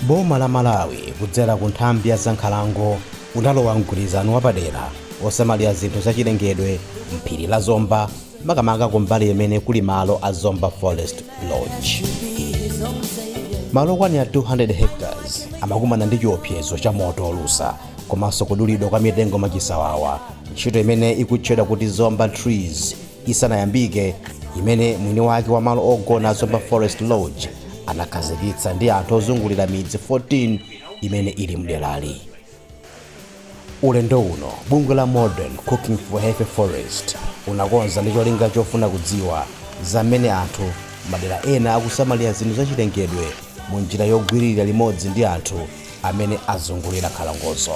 boma la malawi kudzera ku nthambi ya zankhalango linalowa mgwirizano wapadera osamalira zinthu zachilengedwe mphiri la zomba makamaka kumbali imene kuli malo a Zomba Forest Lodge. Malo okwanira 200 hectares amakumana ndi chiopsezo cha moto olusa komanso kudulidwa kwa mitengo mwachisawawa, ntchito imene ikutchedwa kuti Zomba TREEZ isanayambike, imene mwini wake wa malo ogona a Zomba Forest Lodge anakhazikitsa ndi anthu ozungulira midzi 14 imene ili mderali. Ulendo uno, bungwe la Modern Cooking for Healthy Forest unakonza ndi cholinga chofuna kudziwa za mmene anthu madera ena akusamalira zinthu zachilengedwe mu njira yogwirira limodzi ndi anthu amene azungulira nkhalangozo.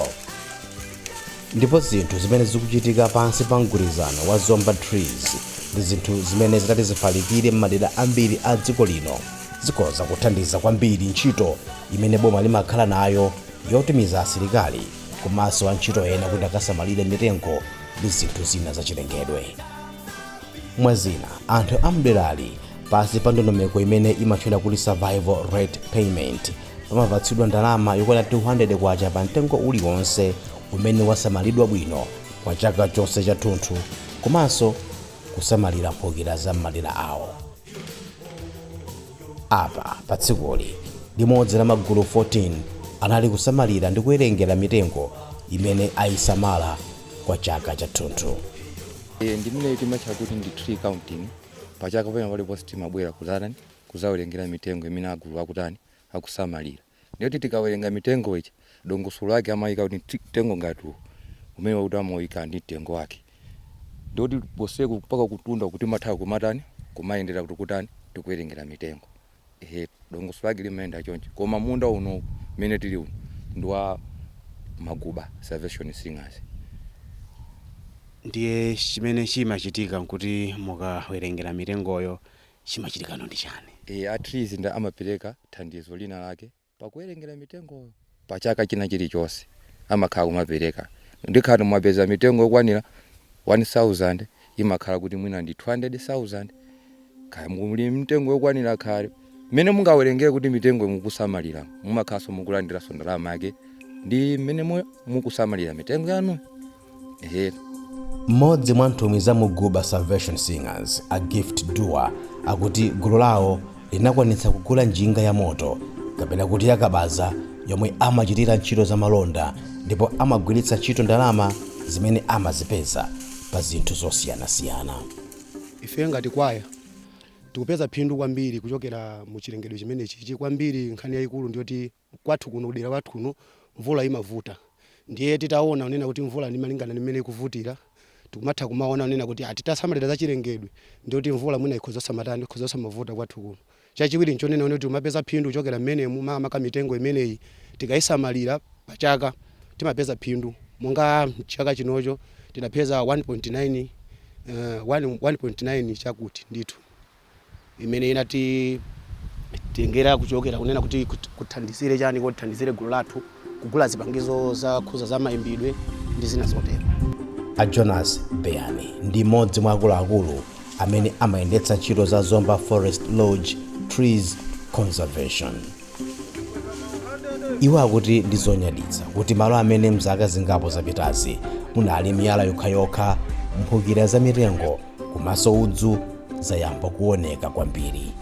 Ndipo zinthu zimene zikuchitika pansi pa mgwirizano wa Zomba TREEZ ndi zinthu zimene zitati zifalikire m'madera ambiri a dziko lino zikhoza kuthandiza kwambiri ntchito imene boma limakhala nayo yotumiza asilikali komanso antchito ena kuti akasamalire mitengo ndi zinthu zina zachilengedwe mwa zina anthu amderali pansi pa ndondomeko imene imatchedwa kuti survival rate payment amapatsidwa ndalama yokwana 200 kwacha pa mtengo uliwonse umene wasamalidwa bwino kwa chaka chonse chathunthu komanso kusamalira mphukira za m'madera awo Apa, pa tsikuli, limodzi la magulu 14 anali kusamalira ndi kuwerengera mitengo imene ayisamala kwa chaka chathunthu. Eee ndiye imeneyi timatcha kuti ndi tree count, pachaka pena paliponse timabwera kudzatani, kudzawerengera mitengo imene aguluwa akutani, akusamalira. Ndiye kuti tikawerenga mitengo ija, dongosolo lake amayika kuti mti- mtengo ngati uwu, umene wakuti amawuyika ndi mtengo wake. Ndiye kuti konseku mpaka kutunda uku timatha kumatani, kumayendera kuti kutani, tikuwerengera mitengo. Ehe, dongosolo lake limayenda choncho. Koma munda unowu umene tili uno ndi wa Maguba Salvation Singers. Ndiye chimene chimachitika n'kuti mukawerengera mitengoyo, chimachitikano ndi chani? e A TREEZ nda amapereka thandizo lina lake pakuwerengera mitengoyo. Pa chaka china chili chonse amakhala akumapereka ndiye ngati mwapeza mitengo yokwanira 1000 imakhala kuti mwina ndi 200,000 kaya muli mitengo yokwanira kaya mmene mungawerengere kuti mitengo mukusamalira mumakhalanso mukulandiranso ndalama yake ndi mmene mukusamalira mitengo yanu. Ehe. mmodzi mwa nthumwi za Muguba salvation singers a gift duwa akuti gulu lawo linakwanitsa kugula njinga ya moto kapena kuti yakabaza yomwe amachitira ntchito za malonda ndipo amagwiritsa ntchito ndalama zimene amazipeza pa zinthu zosiyanasiyana ife ngati kwaya tikupeza phindu kwambiri kuchokera mu chilengedwe chimenechi ichi kwambiri nkhani yayikulu ndiyoti kwathu kuno kudera kwathu kuno mvula imavuta ndiye titaona unena kuti mvula malingana ndi mmene ikuvutira tikumatha kumaona unena kuti titasamalira za chilengedwe ndi kuti mvula mwina ikhoza osamatani ikhoza osamavuta kwathu kuno chachiwiri nchonena kuti timapeza phindu kuchokera mmenemu makamaka mitengo imeneyi tikaisamalira pachaka timapeza phindu monga chaka chinocho tidapeza 1.9 uh, 1.9 chakuti ndithu imene inatitengera kuchokera kunena kuti kut- kuthandizire chani kuti tithandizire gulu lathu kugula zipangizo zakhuza za mayimbidwe ndi zina zotero a jonas beyani ndi mmodzi mwa akuluakulu amene amayendetsa ntchito za zomba forest lodge trees conservation iwo akuti ndi zonyaditsa kuti malo amene mzaka zingapo zapitazi munali miyala yokhayokha mphukira za mitengo komanso udzu zayamba kuoneka kwambiri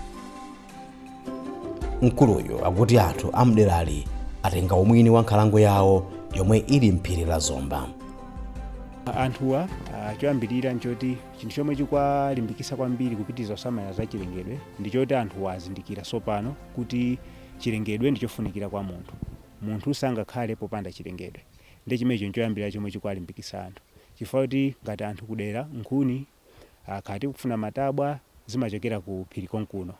mkuluyu akuti anthu amderali atenga umwini wa nkhalango yawo yomwe ili mphiri la zomba anthuwa ah, choyambirira nchoti chinthu chomwe chikuwalimbikitsa kwambiri kupitiriza kusamala za chilengedwe ndi choti anthuwa azindikira tsopano kuti chilengedwe ndi chofunikira kwa munthu. Munthu sangakhale popanda chilengedwe. Ndiye chimenecho nchoyambirira chomwe chikuwalimbikitsa anthu. Chifukwa choti ngati anthu kudera nkhuni, ah, kaya tikufuna matabwa, zimachokera ku phiri konkuno.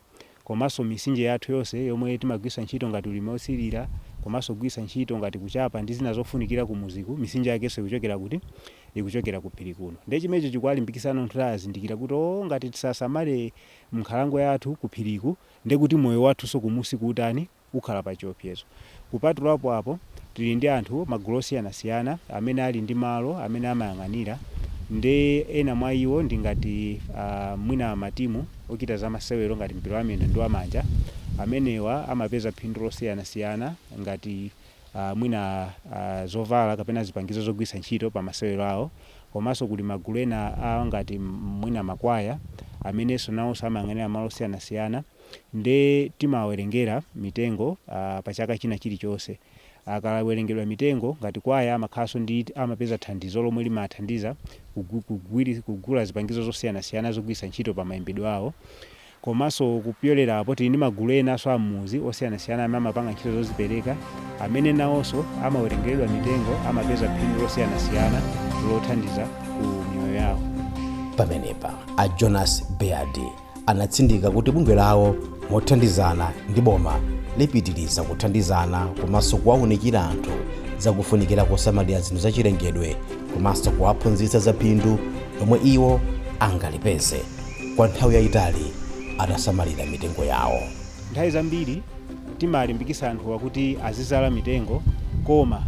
Komanso mitsinje yathu yonse yomwe timagwiritsa ntchito ngati ulimi othirira, komanso kugwiritsa ntchito ngati kuchapa ndi zina zofunikira kumudziku, mitsinje yakenso ikuchokera kuti? Ikuchokera ku phiri kuno. Ndiye chimenecho chikuwalimbikitsa anthu kuti azindikira kuti, oh, ngati sitisamale nkhalango yathu ku phiriku, Ndiye kuti moyo wathunso kumudziku utani, ukhala pa chiopsezo. Kupatula apo, tili ndi anthu, magulu osiyanasiyana amene ali ndi malo amene amayang'anira nde ena mwa iwo ndi ngati a mwina matimu ochita za masewero ngati mpira wa miyendo ndi wa manja amenewa amapeza phindu losiyanasiyana ngati mwina zovala kapena zipangizo zogwiritsa ntchito pa masewero awo komanso kuli magulu ena a ngati mwina makwaya amenenso nawonso amayang'anira malo osiyanasiyana nde timawawerengera mitengo pa chaka china chilichonse akawerengedwa mitengo ngati kwaya amakhalanso ndi amapeza thandizo lomwe limathandiza kugula zipangizo zosiyanasiyana zogwiritsa ntchito pa mayimbidwe awo Komanso kupyolera apo, tili ndi magulu enanso a m'mudzi osiyanasiyana amene amapanga ntchito zozipereka amene nawonso amawerengeredwa mitengo amapeza phindu losiyanasiyana lothandiza ku miyoyo yawo. Pamenepa, a Jonas Baird anatsindika kuti bungwe lawo mothandizana ndi boma lipitiliza kuthandizana komanso kuwaunikira anthu za kufunikira kosamalira zinthu za chilengedwe komanso kuwaphunzitsa za phindu lomwe iwo angalipeze. kwa nthawi yaitali atasamalira mitengo yawo. Nthawi zambiri timalimbikisa anthu kuti azizala mitengo koma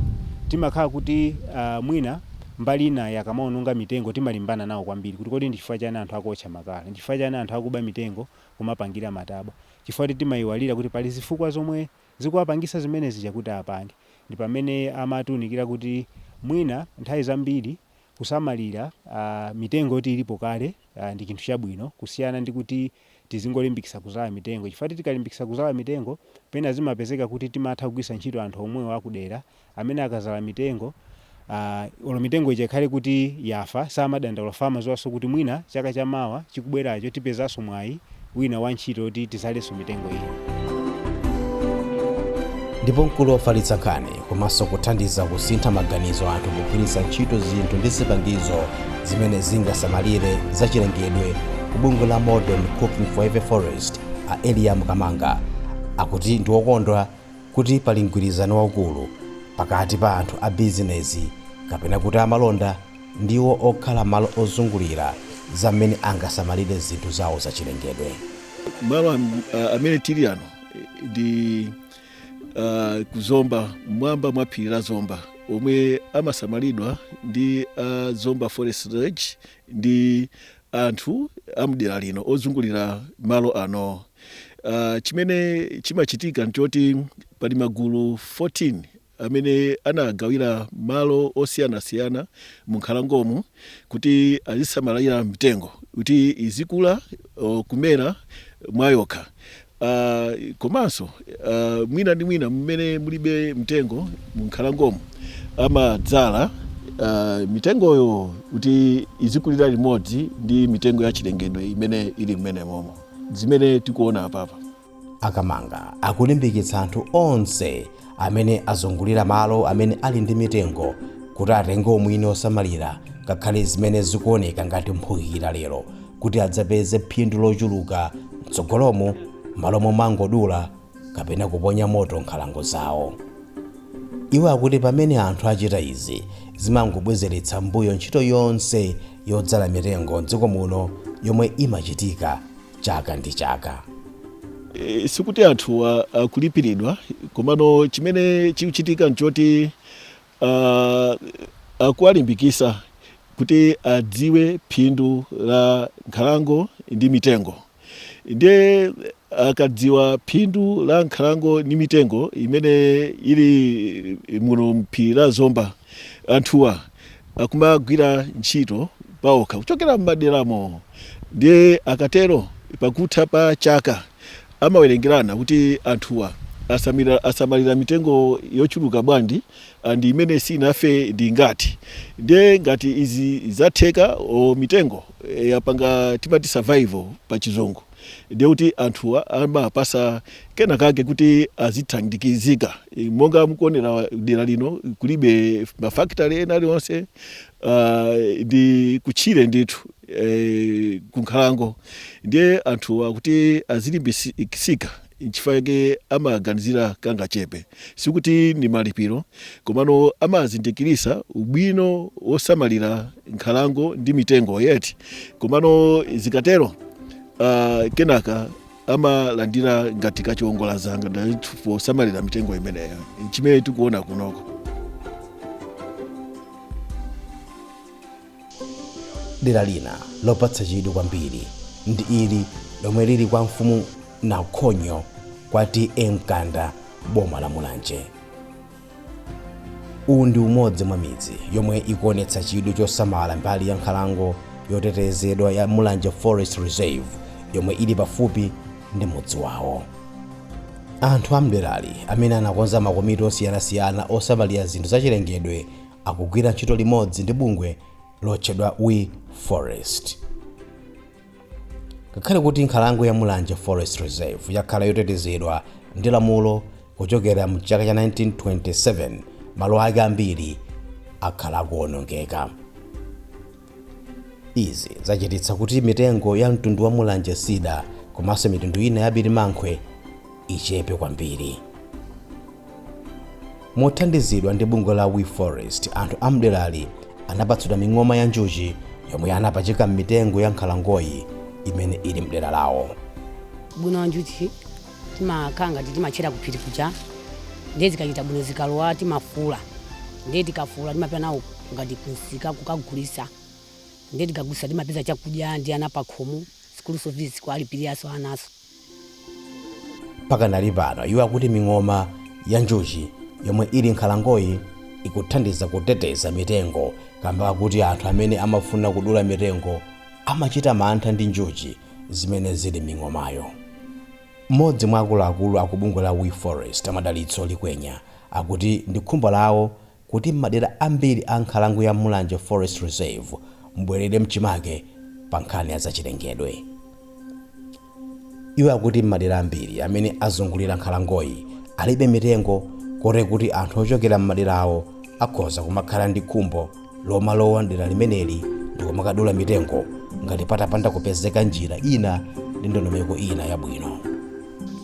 timakhala kuti mwina mbali inayi akamaononga mitengo timalimbana nawo kwambiri kuti kodi ndi chifukwa chani anthu akuwotcha makala, ndi chifukwa chani anthu akuba mitengo kumapangira matabwa chifukwa kuti timaiwalira kuti pali zifukwa zomwe zikuwapangisa zimene zija kuti apange ndi pamene amatiunikira kuti mwina nthawi zambiri kusamalira mitengo yoti ilipo kale uh, ndi chinthu chabwino kusiyana ndi kuti tizingolimbikisa kuzala mitengo chifukwa tikalimbikisa kuzala mitengo pena zimapezeka kuti timatha kugwisa ntchito anthu omwewo akudera amene akazala mitengo uh, olo mitengo ija ikhale kuti yafa samadandaula chifukwa amaziwaso kuti mwina chaka chamawa chikubweracho tipezaso mwayi wina wa ntchito yoti tizalenso mitengo ina. Ndipo mkulu wofalitsa nkhani komanso kuthandiza kusintha maganizo a anthu pogwiritsa ntchito zinthu ndi zipangizo zimene zingasamalire zachilengedwe ku bungwe la Modern Cooking for Healthy Forests a Eliam Kamanga akuti ndi wokondwa kuti pali mgwirizano waukulu pakati pa anthu a bizinezi kapena kuti amalonda ndi okhala malo ozungulira za mmene angasamalire zinthu zawo zachilengedwe. malo am- a- amene tili ano eh, ndi ah, ku zomba mmwamba mwa phiri la zomba omwe amasamalidwa ndi ah, zomba forest lodge ndi anthu amdera lino ozungulira malo ano Ah, chimene chimachitika nchoti pali magulu 14 amene anawagawira malo osiyanasiyana munkhalangomu kuti azisamalira mitengo kuti izikula o, kumera mwayokha Ah, komanso ah, mwina ndi mwina mmene mulibe mtengo munkhalangomu amadzala ah, mitengoyo kuti izikulira limodzi ndi mitengo ya chilengedwe imene ili mmenemomo zimene tikuona apapa a Kamanga akulimbikitsa anthu onse amene azungulira malo amene ali ndi mitengo kuti atenge umwini osamalira ngakhale zimene zikuoneka ngati mphukira lero kuti adzapeze phindu lochuluka mtsogolomu mmalo momangodula kapena kuponya moto nkhalango zawo iwo akuti pamene anthu achita izi zimangobwezeretsa mbuyo ntchito yonse yodzala mitengo mdziko muno yomwe imachitika chaka ndi chaka e, sikuti anthuwa akulipiridwa komano chimene chikuchitika nchoti uh, akuwalimbikisa kuti adziwe phindu la nkhalango ndi mitengo ndiye akadziwa phindu la nkhalango ndi mitengo imene ili muno mphiri la zomba anthuwa akumagwira ntchito pa okha kuchokera m'maderamo ndiye akatero pakutha pa chaka amawerengerana kuti anthuwa asamira, asamalira mitengo yochuluka bwanji and imene sinafe ndi ingati ndiye ngati izi zatheka o mitengo eh, yapanga timati survival pa chizungu ndiye kuti anthuwa amapasidwa kena kake kuti azithandizika Eh, monga mukuonera dera lino kulibe mafakitale ena alionse ah, ndi kutchire ndithu eh, kunkhalango ndiye anthuwa kuti azilimbikitsika nchifukwa chake amaganizira kangachepe. Sikuti ndi malipiro, komano amazindikirisa ubwino wosamalira nkhalango ndi mitengo yet komano zikatero uh, kenaka amalandira ngati kachiwongola dzanja posamalira mitengo imeneyo chimene tikuona kunoko Dera lina lopatsa chidwi kwambiri ndi ili lomwe lili kwa mfumu Nakhonyo kwa TA Mkanda m'boma la Mulanje. Uwu ndi umodzi mwa midzi yomwe ikuonetsa chidwi chosamala mbali ya nkhalango yotetezedwa ya Mulanje Forest Reserve yomwe ili pafupi ndi mudzi wawo. Anthu a mdera limeneli anakonza makomiti osiyanasiyana osamalira zinthu zachilengedwe akugwira ntchito limodzi ndi bungwe lotchedwa We Forest. Ngakhale kuti nkhalango ya Mulanje Forest Reserve yakhala yotetezedwa ndi lamulo kuchokera mu chaka cha 1927, malo ake ambiri akhala akuwonongeka. Izi zachititsa kuti mitengo ya mtundu wa Mulanje Cedar komanso mitundu ina ya birimankhwe ichepe kwambiri. Mothandizidwa ndi bungwe la We Forest, anthu a m'derali anapatsidwa ming'oma ya njuchi yomwe anapachika m'mitengo ya nkhalangoyi imene ili m'dera lawo. Ubwino wa njuchi, Timakhala ngati timatchera ku phiri kuja, ndiye zikachita bwino zikalowa timafula, ndiye tikafula timapita nawo ngati kumsika kukagulitsa, ndiye tikagulitsa timapeza chakudya ndi ana pakhomo, school fees kuwalipiriranso ananso. Pakanali pano iwo akuti ming'oma ya njuchi yomwe ili m'nkhalangoyi ikuthandiza kuteteza mitengo kamba kakuti anthu amene amafuna kudula mitengo amachita mantha ndi njuchi. zimene zili m'ming'omayo. M'modzi mwa akuluakulu a ku bungwe la We Forest, a Madalitso Likwenya, akuti ndi khumbo lawo kuti m'madera ambiri a nkhalango ya Mulanje Forest Reserve mubwerere mchimake pa nkhani ya zachilengedwe. Iwo akuti m'madera ambiri amene azungulira nkhalangoyi alibe mitengo kote kuti anthu ochokera m'maderawo akhoza kumakhala ndi khumbo lomalowa mdera limeneli ndikumakadula mitengo ngati patapanda kupezeka njira ina ndi ndondomeko ina yabwino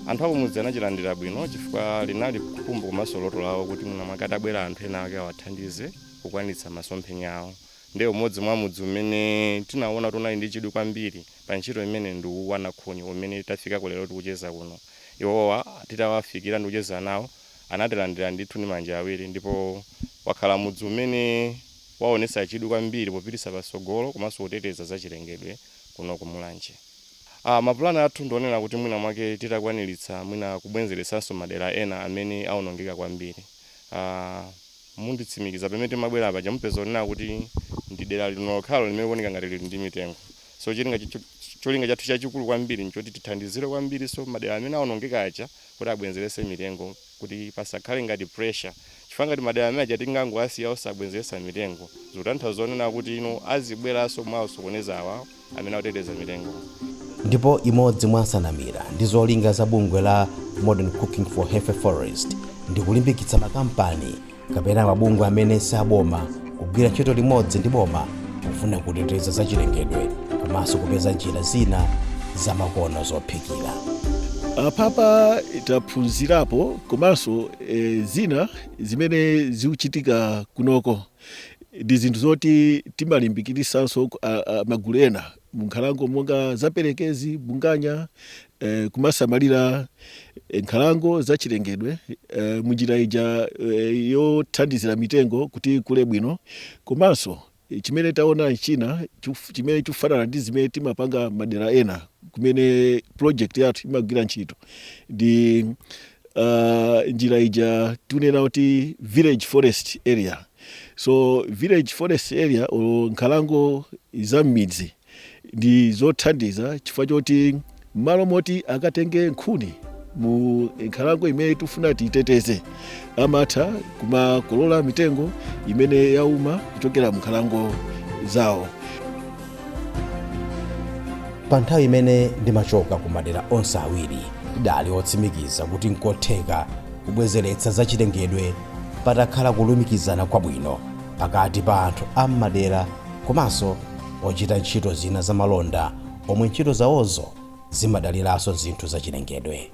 anthu akumudzi anachilandira bwino chifukwa linali khumbo komanso loto lawo kuti mwina mwake atabwera anthu ena ake awathandize kukwanitsa masomphenya awo ndiye umodzi mwa mudzi umene tinaona kuti unali ndi chidwi kwambiri pa ntchito imene ndi uwu wa nakhunyu umene tafika lero tikucheza kuno iwowa titawafikira ndikucheza nawo anatilandira ndithu ndi manja awiri ndipo wakhala mudzi umene waonetsa chidwi kwambiri popititsa patsogolo komanso kuteteza zachilengedwe kuno ku Mulanje. Plan yathu ndi onena kuti mwina mwake titakwaniritsa mwina kubwezeretsanso madera ena amene aonongeka kwambiri. Munditsimikiza pamene timabwera paja mupeza kunena kuti ndi dera lino lokhalo limene likuoneka ngati lili ndi mitengo. So cholinga chathu chachikulu kwambiri n'choti tithandizire kwambirinso madera amene aonongeka aja kuti abwezeretse mitengo kuti pasakhale ngati pressure chifukwa ngati madera amene aja tingangowasiya osabwezeretsa mitengo zikutanthauza zonena kuti you know azibweranso kumawasokoneza awa amene akuteteza mitengowa. Ndipo imodzi mwa nsanamira ndi zolinga za bungwe la Modern Cooking for Healthy Forests ndi kulimbikitsa makampani kapena mabungwe amene si aboma kugwira ntchito limodzi ndi boma pofuna kuteteza zachilengedwe komanso kupeza njira zina zamakono zophikira apapa taphunzirapo komanso e, zina zimene zikuchitika kunoko ndi zinthu zoti timalimbikitsanso magulu ena munkhalango monga za Perekezi, Bunganya, kumasamalira nkhalango zachilengedwe munjira ija yothandizira mitengo kuti ikule bwino komanso chimene taona china chimene chikufanana ndi zimene timapanga madera ena kumene project yathu imagwira ntchito ndi uh, njira ija tikunena kuti village forest area So village forest area or nkhalango za m'midzi ndi zothandiza chifukwa choti m'malo moti akatenge nkhuni mu nkhalango imene tifuna tiiteteze amatha kumakolola mitengo imene yauma kuchokera mu nkhalango zawo pa nthawi imene ndimachoka ku madera onse awiri ndidali otsimikiza kuti nkotheka kubwezeretsa zachilengedwe patakhala kulumikizana kwabwino pakati pa anthu a m'madera komanso ochita ntchito zina zamalonda omwe ntchito zawozo zimadaliranso zinthu zachilengedwe.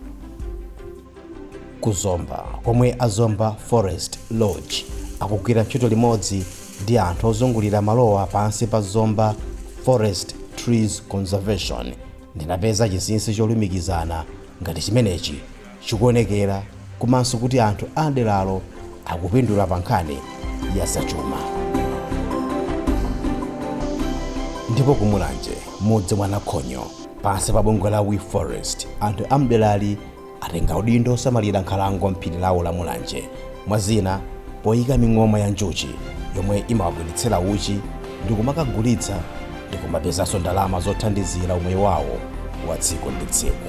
Ku Zomba, komwe a Zomba Forest Lodge akugwira ntchito limodzi ndi anthu ozungulira malowa pansi pa Zomba Forest Trees Conservation, ndinapeza chinsinsi cholumikizana ngati chimenechi chikuonekera komanso kuti anthu a m'deralo akupindula pa nkhani ya zachuma. Ndipo ku Mulanje, mudzi mwa Nakhonyo, pansi pa bungwe la We Forest, anthu a m'derali atenga udindo wosamalira nkhalango m'phiri lawo la Mulanje, mwa zina poyika ming'oma ya njuchi yomwe imawabweretsera uchi ndi kumakagulitsa ndi kumapezanso ndalama zothandizira umoyo wawo wa tsiku ndi tsiku.